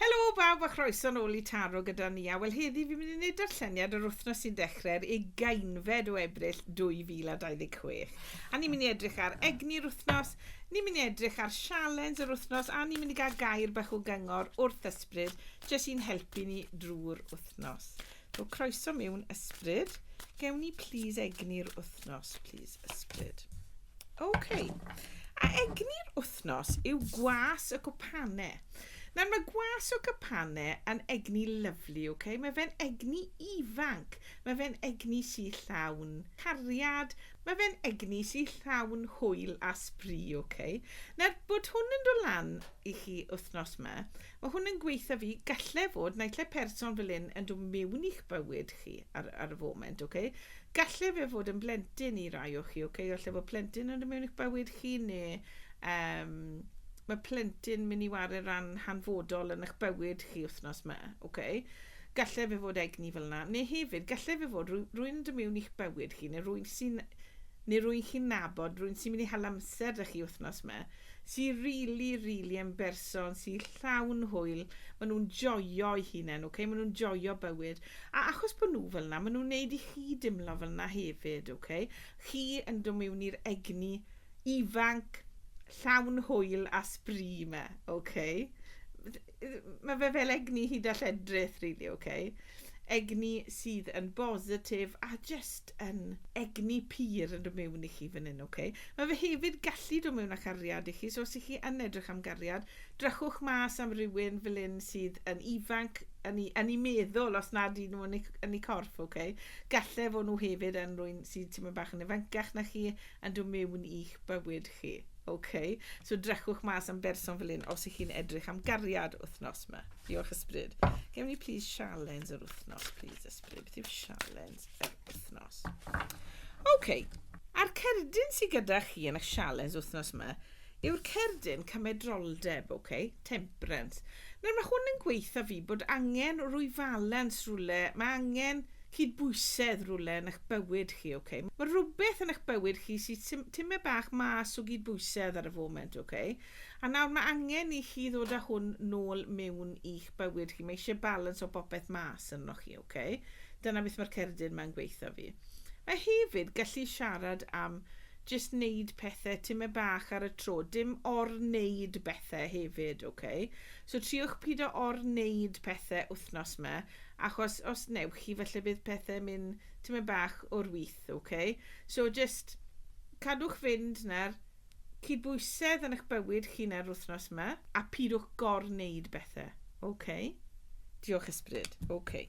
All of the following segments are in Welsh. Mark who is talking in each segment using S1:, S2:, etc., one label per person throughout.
S1: Helo bawb a chroeso nôl i Taro gyda ni a wel heddi fi'n mynd i wneud darlleniad yr wythnos sy'n dechrau'r ugeinfed o Ebrill 2026 a ni'n mynd i edrych ar egni'r wythnos, ni'n mynd i edrych ar sialens yr wythnos a ni'n mynd i gael gair bach o gyngor wrth ysbryd jyst i'n helpu ni drwy'r wythnos. O croeso miwn ysbryd. Gewn ni plîs egni'r wythnos, plîs ysbryd. OK. A egni'r wythnos yw gwas y gwpane. Nawr mae gwas o gwpane yn egni lyflu, OK? Mae fe'n egni ifanc, mae fe'n egni sy llawn cariad, mae fe'n egni sy llawn hwyl a sbri, OK? Nawr bod hwn yn dod lan i chi wythnos yma, Mae hwn yn gweitha fi, gallai fod naill person fel hyn yn dod mewn i'ch bywyd chi ar, ar y foment, oce? Okay? Gallai fe fod yn blentyn i rai o chi, oce? Okay? Gallai fod plentyn yn dod mewn i'ch bywyd chi, neu um, mae plentyn mynd i wario ran hanfodol yn eich bywyd chi wythnos yma, oce? Okay? Gallai fe fod egni fel yna, neu hefyd, gallai fe fod rwy'n yn dod mewn i'ch bywyd chi, neu rwy'n sy'n neu rwy'n chi'n nabod, rwy'n sy'n mynd i hel amser da chi wythnos yma, sy rili rili yn berson sy llawn hwyl, ma' nhw'n joio'u hunen ok, ma' nhw'n joio bywyd a achos bo' nhw fel 'na ma' nhw'n neud i chi dimlo fel 'na hefyd ok, chi yn do' miwn i'r egni ifanc llawn hwyl a sbri 'ma ok. Mae fe fel egni hud a lledrith rili ocê. Egni sydd yn bositif a jyst yn egni pur yn dod mewn i chi fan hyn ocê. Mae fe hefyd gallu dod mewn â chariad i chi so os 'y chi yn edrych am gariad drychwch mas am rywun fel hyn sydd yn ifanc yn eu yn eu meddwl os nad 'dyn nhw yn eu yn eu corff ocê. Galle fo' nhw hefyd yn rywun sydd tipyn bach yn ifancach na chi yn dod mewn i'ch bywyd chi. Ok, so drychwch mas am berson fel hyn os ych chi'n edrych am gariad wythnos ma. Diolch Ysbryd. Gewn ni please sialens yr wythnos, please Ysbryd. Beth yw sialens yr wythnos? Ok, a'r cerdyn sydd gyda chi yn eich sialens wythnos ma, yw'r cerdyn cymedroldeb, ok, temperance. Nawr mae hwn yn gweitha fi bod angen rwy falans rwle, mae angen cydbwysedd rwle yn ych bywyd chi, ok. Mae rwbeth yn ych bywyd chi sy tym, tyme bach mas o gydbwysedd ar y foment, ok. A nawr mae angen i chi ddod â hwn nôl mewn i'ch bywyd chi, mae eisiau balans o bopeth mas arnoch chi, ok. Dyna beth mae'r cerdyn ma'n gweitha fi. Mae hefyd gallu siarad am Jyst neud pethe time bach ar y tro, dim or-neud bethe hefyd, ok? So triwch pido or-neud pethe wthnos ma, achos os newch chi falle bydd pethe myn time bach o'r with, ok? So jyst cadwch fynd na'r cydbwysedd yn ych bywyd chi na'r wthnos ma, a pidwch gor-neud bethe, ok? Diolch Ysbryd, ok.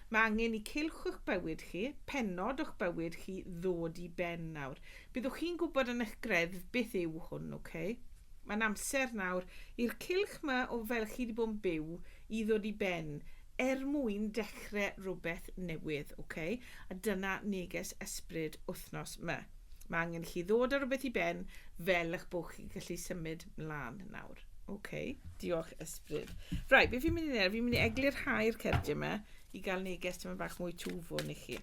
S1: Mae angen i cylch o'ch bywyd chi, pennod o'ch bywyd chi ddod i ben nawr. Byddwch chi'n gwybod yn eich greddf beth yw hwn, ok? Mae'n amser nawr i'r cylch ma o fel chi di bod yn byw i ddod i ben er mwyn dechre rhywbeth newydd, ok? A dyna neges ysbryd wthnos ma. Mae angen i chi ddod a rhywbeth i ben fel ych bod chi'n gallu symud mlan nawr. Okay. Diolch, ysbryd. Right, beth fi'n mynd i wneud? Fi'n mynd i eglur hau'r cerdiau yma i gael neges dyma bach mwy twfwn i chi.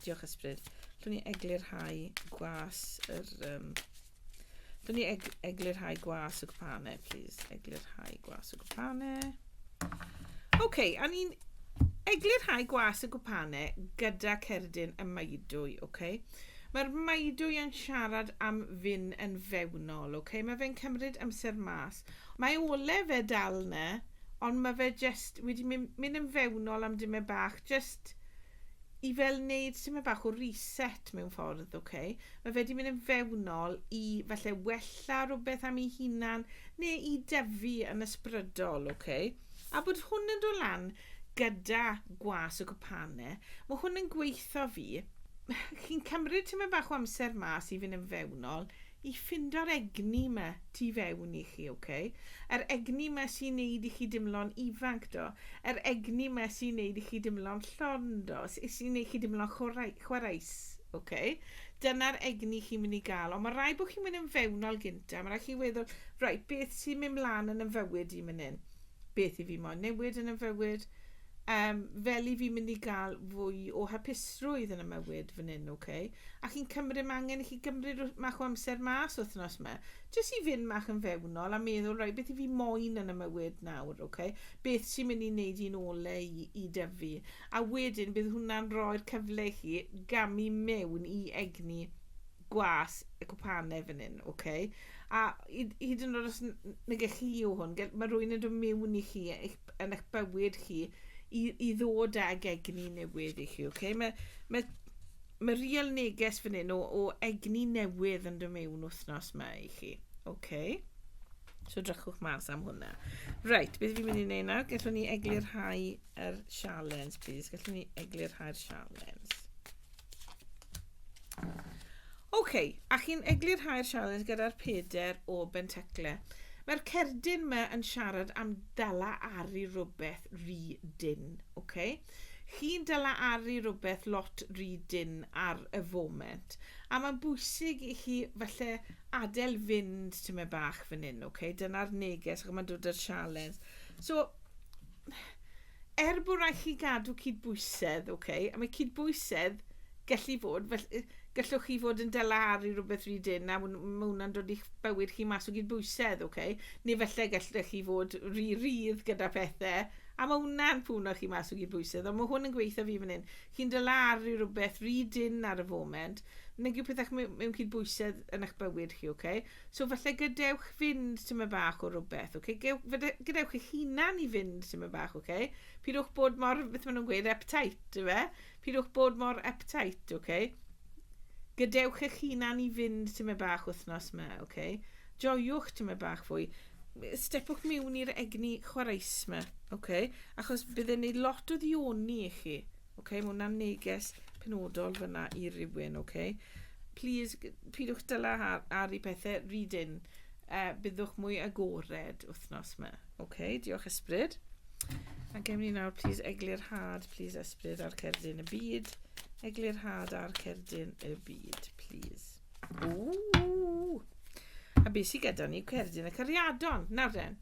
S1: Diolch, ysbryd. Dwi'n ni eglur hau gwas yr... Um, Dwi'n ni eg eglur hau gwas y gwpane, please. Eglur hau gwas y gwpane. Oce, okay, a ni'n eglurhau gwas y gwpane gyda cerdyn y maedwy, oce? Okay? Mae'r maedwy yn siarad am fyn yn fewnol, oce? Okay? Mae fe'n cymryd amser mas. Mae ole fe dal na, ond mae fe just wedi mynd, mynd yn fewnol am dyma bach, just i fel wneud tymed bach o reset mewn ffordd, ok? Mae fe 'di mynd yn fewnol i falle wella rhywbeth am ei hunan neu i dyfu yn ysbrydol, ok? A bod hwn yn dod lan gyda gwas y cwpane, mae hwn yn gweitho fi, chi'n cymryd tymed bach o amser mas i fynd yn fewnol, i ffindo'r egni 'ma tu fewn i chi, ok? Yr egni 'ma sy'n neud i chi dimlo'n ifanc, do? Yr egni 'ma sy'n neud i chi dimlo'n llon, do? S- sy'n neud chi dimlo'n chwrai- chwaraeus, ok? Dyna'r egni chi'n mynd i ga'l, ond ma' raid bo' chi'n mynd yn fewnol gynta, ma' raid chi weddol, reit, beth sy'n mynd mlan yn 'y mfywyd i myn 'yn? Beth 'yf fi moyn newid yn 'y mfywyd? Yym, fel i fi mynd i gael fwy o hapusrwydd yn y mywyd fan hyn, ok? A chi'n cymryd, mae angen i chi gymryd rw- mach o amser mas wythnos ma, jyst i fynd mach yn fewnol a meddwl, reit, beth i fi moyn yn y mywyd nawr, ok? Beth sy'n mynd i wneud i'n ole i, i dyfu? A wedyn, bydd hwnna'n rhoi'r cyfle i chi gamu mewn i egni gwas y cwpanau fan hyn, ok? A hyd, hyd yn oed os n- n- nage chi yw hwn, gell- mae rhywun yn dod mewn i chi, eich yn eich bywyd chi i, i ddod ag egni newydd i chi, okay? Mae, mae, mae real neges fan hyn o, o egni newydd yn dod mewn wythnos yma i chi, okay? So drychwch mas am hwnna. Right, beth fi'n mynd i wneud nawr? Gallwn ni eglurhau yr sialens, please. Gallwn ni eglurhau'r sialens. OK, a chi'n eglurhau'r sialens gyda'r peder o Bentacle. Mae'r cerdyn yma yn siarad am dala ar i rhywbeth rhy dyn. OK? Chi'n dala ar i rhywbeth lot rhy dyn ar y foment. A mae'n bwysig i chi falle adael fynd tyma bach fan hyn. OK? Dyna'r neges ac mae'n dod â'r sialens. So, Er bod rhaid chi gadw cydbwysedd, ok, a mae cydbwysedd gallu fod, fel, gallwch chi fod yn dala ar i rhywbeth rhy dyn a mae hwnna'n dod i'ch bywyd chi mas o gydbwysedd, ok, neu felly gallwch chi fod rhy rydd gyda pethau a mae hwnna'n pwno chi mas o gydbwysedd, ond mae hwn yn gweithio fi fan hyn. Chi'n dala ar i rhywbeth rhy dyn ar y foment, nag yw pethau mewn cydbwysedd yn eich bywyd chi, ok. So falle gadewch fynd tymed bach o rywbeth, ok? Gadewch eich hunan i fynd tymed bach, ok? Pidwch bod mor, beth maen nhw'n gweud, uptight, efe? Pidwch bod mor uptight, ok? Gadewch eich hunan i fynd tymed bach wythnos yma, ok? Joiwch tymed bach fwy. Stepwch miwn i'r egni chwaraes yma, ok? Achos bydd e'n neud lot o ddioni i chi. Oce, ma' hwnna'n neges penodol fyna i rywun, oce. Plîs, g- pidwch dala ar ar i pethe, read in. Yy, byddwch mwy agored wthnos 'ma. Oce, diolch Ysbryd. A gewn ni nawr plîs eglurhad, plîs Ysbryd a'r cerdyn y byd. Eglurhad a'r cerdyn y byd, plîs. Ww! A beth sydd gyda ni? Cerdyn y Cariadon. Nawr den,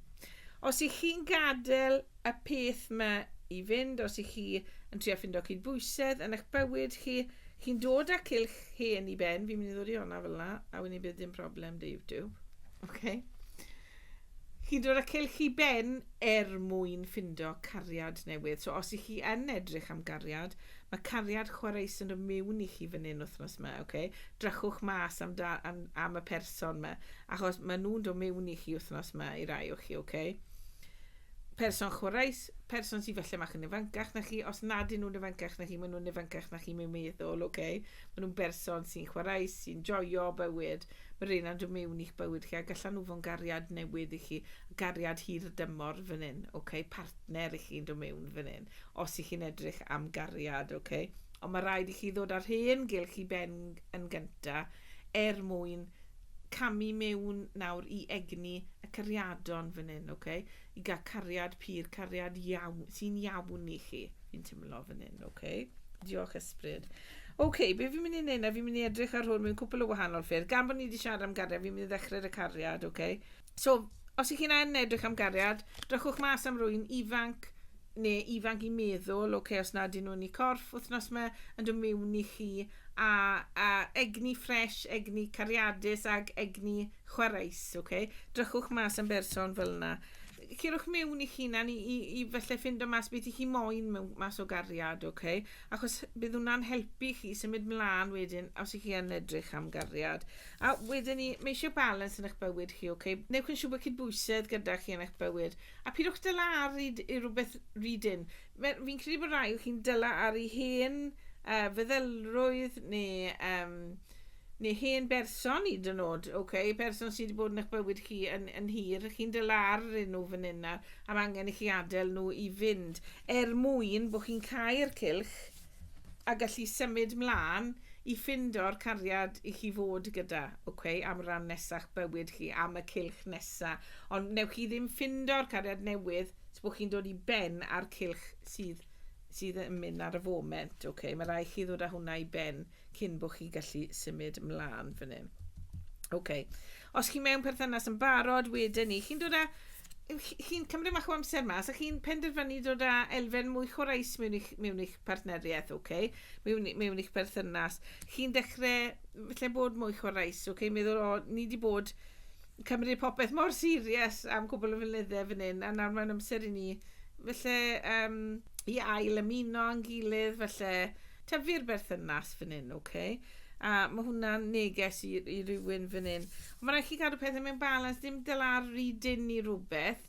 S1: os ych chi'n gadael y peth yma i fynd, os ych chi yn trio ffindo cydbwysedd yn eich bywyd chi, chi'n dod â cilch hen i ben, fi'n mynd i ddod i hwnna fel yna, a wedyn bydd dim problem dy YouTube. Okay? chi'n dod a cylch i ben er mwyn ffindo cariad newydd. So os i chi yn edrych am gariad, mae cariad chwareus yn y miwn i chi fan hyn wythnos yma, ok? Drychwch mas am, da, am, am y person yma, achos maen nhw'n dod miwn i chi wythnos yma i rai o chi, ok? Person chwaraes, person sydd falle mach yn ifancach na chi, os nad 'yn nhw'n ifancach na chi, maen nhw'n ifancach na chi mewn meddwl, ok? Maen nhw'n berson sy'n chwaraes, sy'n joio bywyd, mae rheina'n dod mewn i'ch bywyd chi a gallan nhw fod yn gariad newydd i chi, gariad hirdymor fan hyn, ok? Partner i chi'n dod mewn fan hyn, os i chi'n edrych am gariad, ok? Ond mae rhaid i chi ddod â'r hen gylch i ben yn gynta, er mwyn camu mewn nawr i egni y cariadon fan hyn, ok? I gael cariad pur, cariad iawn, sy'n iawn i chi, fi'n teimlo fan hyn, ok? Diolch ysbryd. Ok, be fi'n mynd i wneud na, fi'n mynd i edrych ar hwn mewn cwpl o wahanol ffyrdd. Gan bod ni wedi siarad am gariad, fi'n mynd i ddechrau y cariad, ok? So, os ych chi'n edrych am gariad, drychwch mas am rwy'n ifanc, ne ifanc i meddwl ok os na dyn nhw'n i corff wthnos ma yn dod miwn i chi a a egni ffresh egni cariadus ag egni chwareus ok drychwch mas am berson fel na cerwch miwn i chi na ni i i felly ffind o mas beth i chi moyn mewn mas o gariad ok achos bydd hwnna'n helpu chi symud mlan wedyn os i chi yn edrych am gariad a wedyn ni mae eisiau balans yn eich bywyd chi ok newch yn siŵr bod cydbwysedd gyda chi yn eich bywyd A pidwch dyla ar i rywbeth rydyn. Fi'n credu bod rai o chi'n dyla ar i hen uh, feddylrwydd neu, um, neu hen berson i dyn nod, okay? person sydd wedi bod yn eich bywyd chi yn, yn hir, chi'n dyla ar nhw fan hyn nawr, am angen i chi adael nhw i fynd, er mwyn bod chi'n cael cylch a gallu symud mlan i ffindo'r cariad i chi fod gyda ok am ran nesa'ch bywyd chi am y cylch nesa ond newch chi ddim ffindo'r cariad newydd os bo chi'n dod i ben a'r cylch sydd sydd yn mynd ar y foment ok mae rai chi ddod â hwnna i ben cyn bo chi gallu symud mlan fan hyn ok Os chi mewn perthynas yn barod, wedyn ni, chi'n dod â... chi'n cymryd mach o amser mas a chi'n penderfynu dod â elfen mwy chwaraeus mewn i'ch, mewn i'ch partneriaeth, oce? Okay? Mewn, mewn i'ch perthynas. Chi'n dechrau, felly bod mwy chwaraeus, oce? Okay? Meddwl, o, ni wedi bod cymryd popeth mor serius am cwbl o flynyddau fan hyn, a nawr mae'n amser i ni, felly, um, i ail ymuno yn gilydd, felly, tyfu'r berthynas fan hyn, oce? Okay? A mae hwnna'n neges i, i rywun fan hyn. Ond mae rhaid chi gadw pethau mewn balans, dim dyla'r rhy dyn i rhywbeth.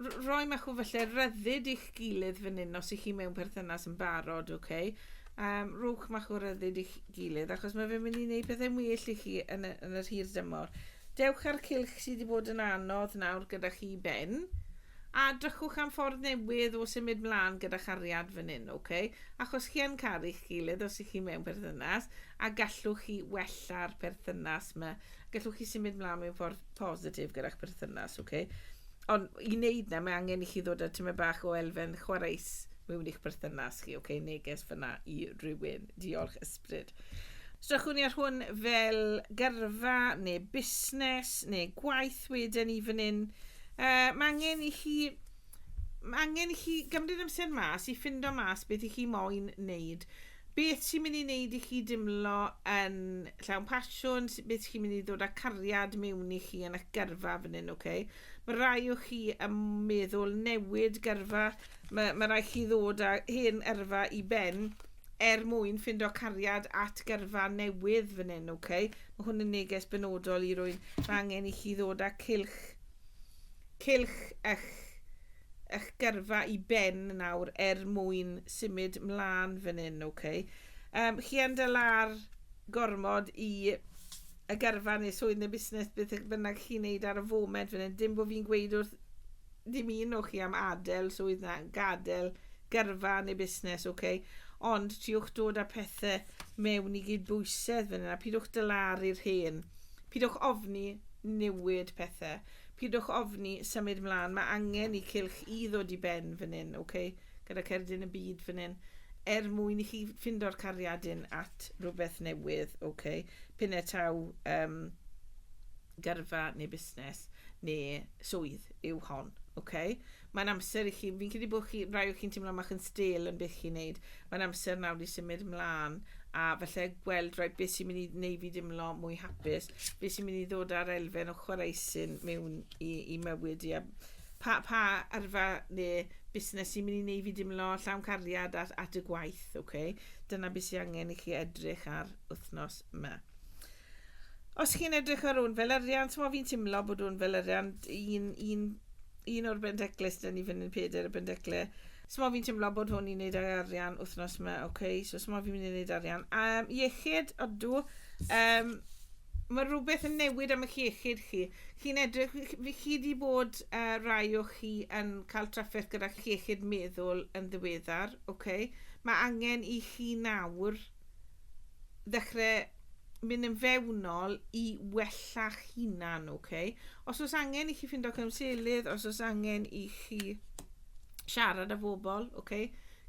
S1: R roi mach o falle ryddid i'ch gilydd fan hyn os ych chi mewn perthynas yn barod, oce? Okay? Um, rhowch mach o ryddid i'ch gilydd, achos mae fe'n mynd i wneud pethau'n well i chi yn y, yn yr hir dymor. Dewch â'r cilch sydd wedi bod yn anodd nawr gyda chi ben. A drychwch am ffordd newydd o symud mlan gyda chariad fan hyn, ok? Achos chi yn caru'ch gilydd os y'ch chi mewn perthynas, a gallwch chi wella'r perthynas 'ma. Gallwch chi symud mlan mewn ffordd positif gyda'ch perthynas, ok? Ond i neud 'na, mae angen i chi ddod â tymed bach o elfen chwareus mewn i'ch perthynas chi, ok? Neges fyna i rywun. Diolch, ysbryd. Strychwn ni ar hwn fel gyrfa, neu busnes, neu gwaith wedyn i fan hyn. Yy, mae angen i chi... Mae angen i chi gymryd amser mas i ffindo mas beth i chi moyn wneud. Beth sy'n mynd i wneud i chi dimlo yn llawn pasiwn, beth sy'n mynd i ddod â cariad mewn i chi yn eich gyrfa fan hyn, oce? Mae rai o chi yn meddwl newid gyrfa, mae, mae rai chi ddod â hen yrfa i ben er mwyn ffindo cariad at gyrfa newydd fan hyn, oce? Mae hwn yn neges benodol i rwy'n mae angen i chi ddod â cylch Cylch eich eich gyrfa i ben nawr er mwyn symud mlan fan hyn, ok. Yym chi yn dal ar gormod i y gyrfa neu swydd neu busnes beth bynnag chi'n neud ar y foment fan hyn, dim bo fi'n gweud wrth dim un o chi am adel swydd na gadel gyrfa neu busnes, ok. Ond triwch dod â pethe mewn i gyd-bwysedd fan hyn a pidwch dalaru'r hen Pidwch ofni newid pethe. Pidwch ofni symud mlan. Mae angen i cylch i ddod i ben fan hyn, ok? Gyda Cerdyn y Byd fan hyn. Er mwyn i chi ffindo'r cariadin at rhywbeth newydd, ok? Pine taw um, gyrfa neu busnes neu swydd yw hon, ok? Mae'n amser i chi, fi'n credu bod chi, rai o chi'n teimlo mach yn stel yn beth chi'n neud. Mae'n amser nawr i symud mlaen a falle gweld rhaid beth sy'n mynd i wneud fi dimlo mwy hapus, beth sy'n mynd i ddod ar elfen o chwaraeusyn mewn i, i mywyd i, a pa, pa arfa neu busnes sy'n mynd i wneud fi dimlo llawn cariad at, at y gwaith, okay? Dyna beth sy'n angen i chi edrych ar wythnos yma. Os chi'n edrych ar un fel arian, ti'n fi'n timlo bod un fel arian, un, un, un o'r bendecles, dyn ni fynd yn peder y bendecle, Sma fi'n teimlo bod hwn i'n neud ag arian wythnos yma, oce, okay, so sma fi'n mynd i neud arian. Um, iechyd, odw, um, mae rhywbeth yn newid am eich iechyd chi. Chi'n edrych, fi chi wedi bod uh, rai o chi yn cael trafferth gyda iechyd meddwl yn ddiweddar, oce. Okay. Mae angen i chi nawr ddechrau mynd yn fewnol i wella'ch hunan, ok? Os oes angen i chi ffindo cymselydd, os oes angen i chi siarad â bobl, ok?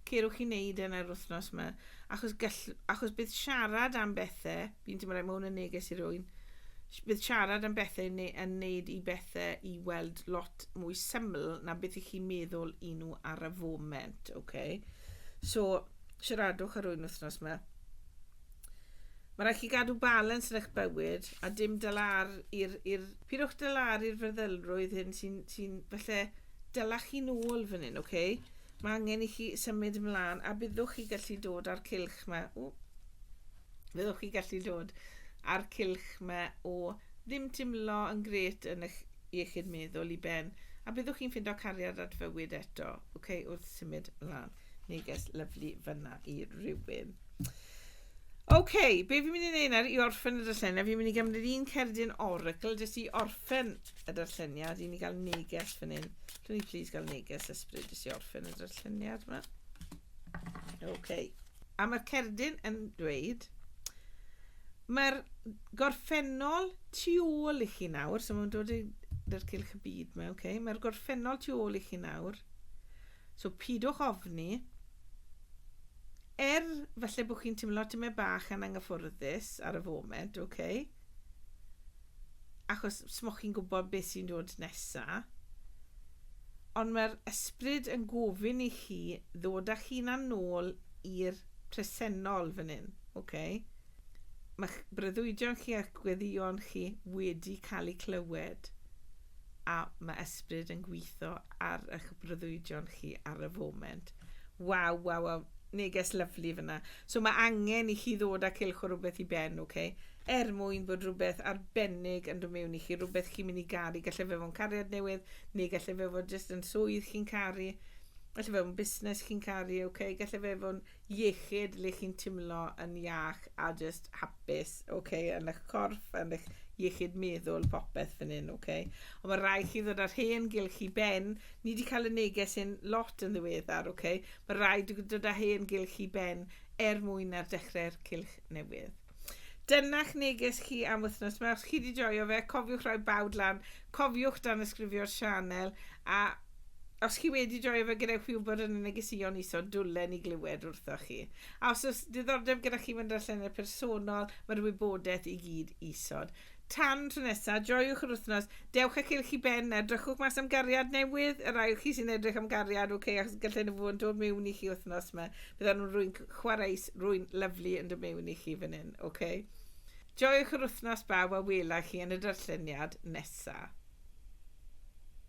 S1: Cerwch i wneud yn yr wythnos yma. Achos, gall, achos bydd siarad am bethau, fi'n teimlo rhaid mae hwn yn neges i rwy'n, bydd siarad am bethau yn, yn neud i bethau i weld lot mwy syml na beth i chi meddwl i nhw ar y foment, ok? So, siaradwch ar rwy'n wythnos yma. Mae rhaid chi gadw balans yn eich bywyd a dim dalar i'r... i'r... Pidwch dalar i'r fyrddylrwydd hyn sy'n sy falle dyla chi'n ôl fan hyn, oce? Okay? Mae angen i chi symud ymlaen a byddwch chi gallu dod â'r cilch yma. O, byddwch chi gallu dod â'r cilch yma o ddim timlo yn gret yn eich iechyd meddwl i ben a byddwch chi'n ffindo cariad at fywyd eto, oce, okay, wrth symud ymlaen. Neges lyflu fyna i rywun. Oce, okay, be fi'n mynd i wneud nawr i orffen y darlleniad, fi'n mynd i gymryd un cerdyn oracle jyst i orffen y darlleniad, i ni gael neges fan hyn. Dwi'n ni please gael neges ysbryd jyst i orffen y darlleniad yma. Oce. Okay. A mae'r cerdyn yn dweud, mae'r gorffennol tu ôl i chi nawr, so mae'n dod i'r cylch y byd yma, oce. Okay. Mae'r gorffennol tu ôl i chi nawr. So pidwch ofni. Er falle bod chi'n timlo tymed bach yn anghyffyrddus ar y foment, ok? Achos smoch chi'n gwybod beth sy'n dod nesa. Ond mae'r ysbryd yn gofyn i chi ddod â chi'n anol i'r presennol fan hyn, ok? mae'ch breuddwydion chi a'ch gweddïon chi wedi cael eu clywed a mae ysbryd yn gweithio ar eich breuddwydion chi ar y foment. Waw, waw, waw. Neges lyflu fyna. So mae angen i chi ddod â cilch o rhywbeth i ben, oce? Okay? Er mwyn bod rhywbeth arbennig yn dod mewn i chi, rhywbeth chi'n mynd i garu. Gallai fe fod yn cariad newydd, neu gallai fe fod jyst yn swydd chi'n caru. Gallai fe fod yn busnes chi'n caru, oce? Okay? Gallai fe fod yn iechyd le chi'n timlo yn iach a jyst hapus, ok, yn eich corff, yn eich iechyd meddwl, popeth fan hyn, ok. Ond mae rhaid chi ddod â'r hen gylch i ben, ni wedi cael y neges hyn lot yn ddiweddar, ok, mae rhaid dod â hen gylch i ben er mwyn ar dechrau'r cylch newydd. Dyna'ch neges chi am wythnos 'ma. Os chi wedi joio fe, cofiwch rhoi bawd lan, cofiwch dan ysgrifio'r sianel, a os chi wedi joio fe, gadewch fi wybod yn y negeseuon iso, dwlen i glywed wrthoch chi. A os oes diddordeb gyda chi fynd allan i'r personol, mae'r wybodaeth i gyd isod. Tan tro nesa, joiwch yr wythnos. Dewch â'ch cylch i ben, a edrychwch mas am gariad newydd. Y rhai o chi sy'n edrych am gariad, ok, achos gallai nhw fod yn dod mewn i chi wythnos ma. Bydd nhw'n rwy'n chwareus, rwy'n lyfli yn dod mewn i chi fan hyn, ok? Joiwch yr wythnos bawb a wela chi yn y darlleniad nesa.